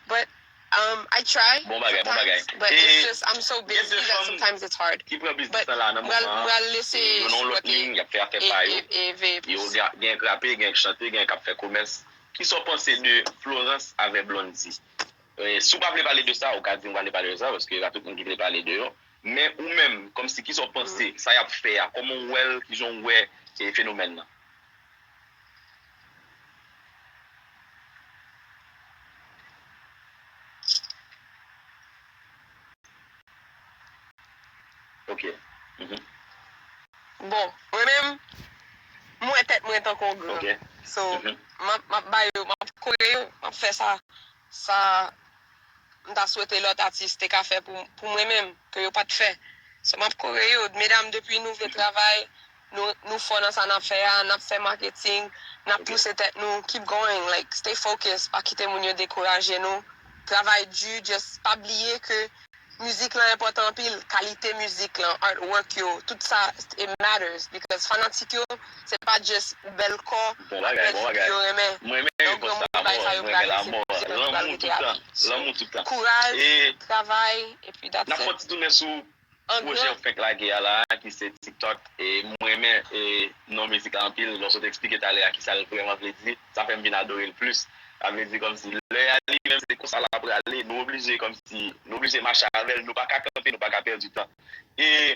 But um I try Bon bagay, bon bagay. sometimes but it's just I'm so busy that sometimes it's hard. Ki pran biznis But nan la nan moman an. m'pral lese Yo nan yon lòt sipote liy, y'ap fè afè pa yo. e e veye Yo plis. gen k rape, gen k chante, gen k'ap fè komès. Kisa w panse de Florence avè Blondy? Si w pa vle pale de sa, ou ka di m pa vle pale de sa paske pa tout moun ki vle pale de yo. Men ou menm, kòmsi kisa w panse sa y'ap fè a? Kòman w wè l? Kijan w wè fenomèn nan? Bon, mwen menm, m wè tèt mwen tankou yon gran. So, m ap ba yo, m ap kore yo, m ap fè sa, sa m ta swete lòt atis te ka fè pou mwen menm, ke yo pa t fè. So, m ap kore yo. Medam, depi nou vle travay. Nou fò nan sa nap fè a, nap fè marketing, nap pouse tèt nou, keep going, like stay focus, pa kite moun yo dekouraje nou, travay di, just pa bliye ke mizik lan enpòtan anpil, kalite mizik lan, art work yo, tout sa it matters, because fanatik yo se pa just bèl kò ak bèl figi yo renmen, yon granmoun ki bay sa yo prale se pou mizik lan ki pral rete avèl, so kouraj, travay, epi that's it. Pwojè ou fenk lage a la ki se Tiktok e m renmen non mizik la anpil lòske w te eksplike talè a kisa l vrèman vle di sa fè m vin adore l plis sa vle di kòmsi lè a li menm se konsa l ap prale nou oblije kòmsi nou oblije mache avè l nou pa ka kanpe nou pa ka pèdi tan e